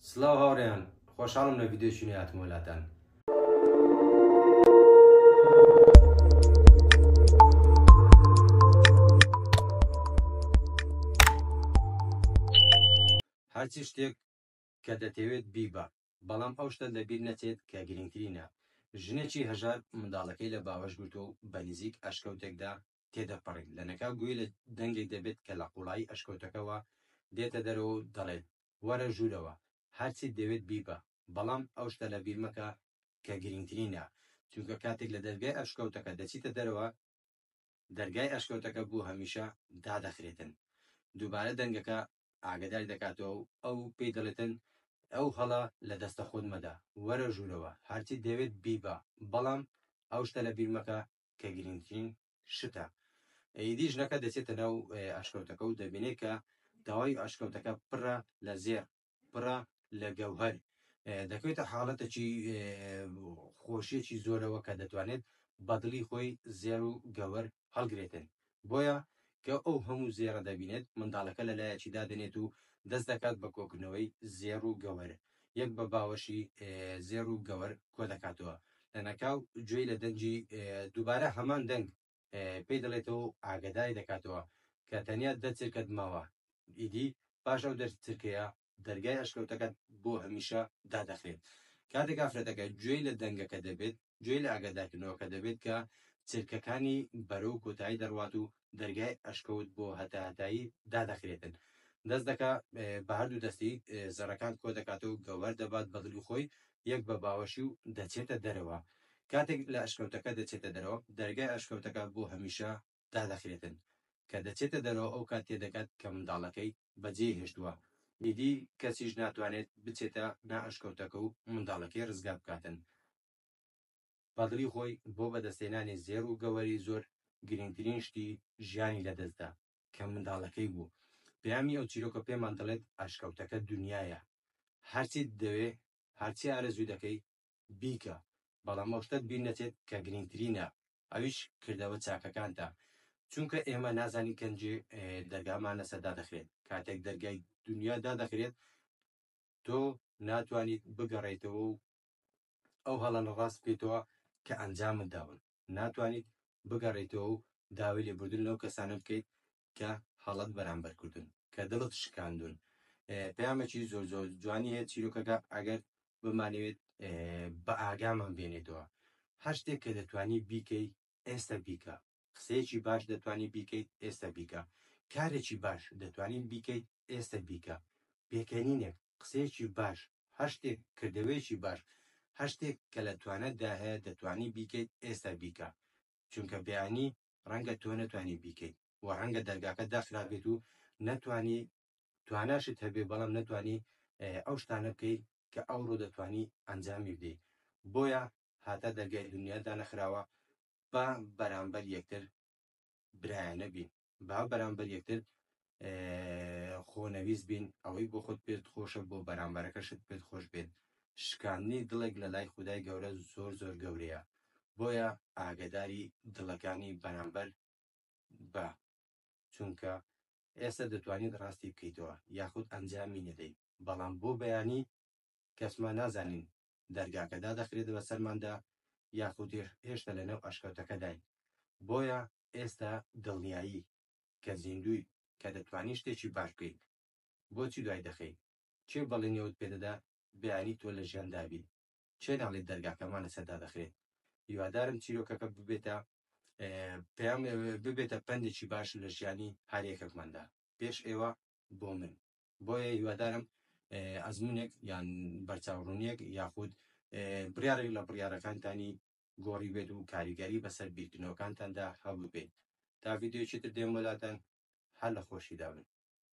سڵاو هاوڕێیان خۆشحاڵم لە ڤیدیۆی نوێ هاتمەوە لاتان هەرچی شتێک کە دەتەوێت بیبە بەڵام ئەو شتە لەبیر نەچێت کە گرنگترینە ژنێکی هەژار منداڵەکەی لە باوەش گرتو و بە نزیک ئەشکەوتێکدا تێدەپەڕین، لەنەکاو گوێی لە دەنگێک دەبێت کە لە قوڵایی ئەشکەوتەکەوە دێتە دەرەوە و دەڵێت، وەرە ژوورەوە، هەرچیت دەوێت بیبە، بەڵام ئەو شتە لەبیر مەکە کە گرنگترینە، چونکە کاتێک لە دەرگای ئەشکەوتەکە دەچیتە دەرەوە، دەرگای ئەشکەوتەکە بۆ هەمیشە دادەخرێتن. دووبارە دەنگەکە ئاگاداری دەکاتەوە و ئەو پێی دەڵێتن، ئەو هەڵە لە دەستە خۆت مەدە، وەرە ژوورەوە، هەرچیت دەوێت بیبە، بەڵام ئەو شتە لەبیر مەکە کە گرنگترین شتە ئیدی ژنەکە دەچێتە ناو ئەشکەوتەکە و دەبینێت کە تەواوی ئەشکەوتەکە پڕە لە زێر پڕە لە گەوهەر دەکەوێتە حاڵەتەکی خۆشیەکی زۆرەوە کە دەتوانێت بەدڵی خۆی زێر و گەوەر هەڵگرێتن بۆیە کە ئەو هەموو زێڕە دەبینێت، منداڵەکە لە لایەکی دادەنێت و دەست دەکات بە کۆکردنەوەی زێڕ و گەوەر، یەک بە باوەشی زێڕ و گەوەر کۆدەکاتەوە، لەناکاو گوێی لە دەنگی دووبارە هەمان دەنگ پێی دەڵێتەوە و ئاگەداری دەکاتەوە کە تەنیا دە چرکەت ماوە، ئیدی پاش ئەو دە چرکەیە دەرگای ئەشکەوتەکەت بۆ هەمیشە دادەخرێت. کاتێک ئافرەتەکە گوێی لە دەنگەکە دەبێت، گوێی لە ئاگادارکردنەوەکە دەبێت کە چرکەکانی بەرەو کۆتایی دەڕوات و دەرگای ئەشکەوت بۆ هەتاهەتایی دادەخرێتن. دەست دەکا بە هەردوو دەستی زەڕەکان کۆ دەکاتەوە و گەوهەر دەبات بە دڵی خۆی یەک بە باوەشی و دەچێتە دەرەوە. کاتێک لە ئەشکەوتەکە دەچێتە دەرەوە، دەرگای ئەشکەوتەکە بۆ هەمیشە دادەخرێتن کە دەچێتە دەرەوە ئەوکات تێدەگات کە منداڵەکەی بەجێی هێشتووە ئیدی کەسیش ناتوانێت بچێتە نا ئەشکەوتەکە و منداڵەکەی ڕزگار بکاتن بەدڵی خۆی بۆ بەدەستهێنانی زێڕ و گەوەری زۆر گرنگترین شتی ژیانی لەدەستدا کە منداڵەکەی بوو پەیامی ئەو چیرۆکە پێمان دەڵێت ئەشکەوتەکە دنیایە هەرچیت دەوێ هەرچی ئارەزوو دەکەی بیکە بەڵام ئەو شتەت بیر نەچێت کە گرنگترینە ئەویش کردەوە چاکەکانتە چونکە ئێمە نازانین کەنجێ دەرگامان لەسەر دادەخرێت کاتێک دەرگای دنیا دادەخرێت تۆ ناتوانیت بگەڕێتەوە و ئەو هەڵە لە ڕاست بکەیتەوە کە ئەنجامت داون ناتوانیت بگەڕێتەوە و داوای لێبوردن لەو کەسانە بکەیت کە هەڵەت بەرامبەر کردون کە دڵت شکاندون پەیامەکی زۆر زۆر جوانی هەیە چیرۆکەکە ئەگەر بمانەوێت بە ئاگامان بێنێتەوە هەر شتێک کە دەتوانی بیکەی ئێستا بیکە قسەیەکی باش دەتوانی بیکەیت ئێستا بیکە کارێکی باش دەتوانین بیکەیت ئێستا بیکە پێکەنینێک قسەیەکی باش هەر شتێک کردەوەیەکی باش هەر شتێک کە لە توانەتدا هەیە دەتوانی بیکەیت ئێستا بیکە چونکە بەیانی ڕەنگە تۆ نەتوانی بیکەیت و ڕەنگە دەرگاکە داخرابێت و نەتوانی تواناشت هەبێ بەڵام نەتوانی ئەو شتانە بکەیت کە ئەوڕۆ دەتوانی ئەنجامی بدەیت بۆیە هاتا دەرگای دنیا دانەخراوە با بەرامبەر یەکتر برایانە بین با بەرامبەر یەکتر خۆنەویست بین ئەوەی بۆ خۆت پێت خۆشە بۆ بەرامبەرەکەشت پێت خۆش بێت شکاندنی دڵێک لە لای خودای گەورە زۆر زۆر گەورەیە بۆیە ئاگداری دڵەکانی بەرامبەر بە چونکە ئێستا دەتوانیت ڕاستی بکەیتەوە یاخود ئەنجامی نەدەی بەڵام بۆ بەیانی کەسمان نازانین دەرگاکە دادەخرێتە بە سەرماندا یاخود هێشتا لەنێو ئەشکەوتەکەداین بۆیە ئێستا دڵنیایی کە زیندوویت کە دەتوانی شتێکی باش بکەیت بۆچی دوای دەخەی کێ بەڵێنی ئەوت پێدەدا بیانی تۆ لە ژیاندا بی کێ ناڵێت دەرگاکەمان لەسەر دادەخرێت هیوادارم چیرۆکەکە ببێتە پێم ببێتە پەندێکی باش لە ژیانی هەرێکەکماندا پێش ئێوە بۆ من بۆیە هیوادارم ئەزمونێک یان بەرچاوڕونیەک یاخود بڕارێک لە بڕارەکانتانی گۆڕی بێت و کاریگەری بەسەر بیرکردنەوەکانتاندا هەبووبێت تا ڤیدیۆیەکی تر دێم بۆ لاتان هەر لە خۆشیدا بن.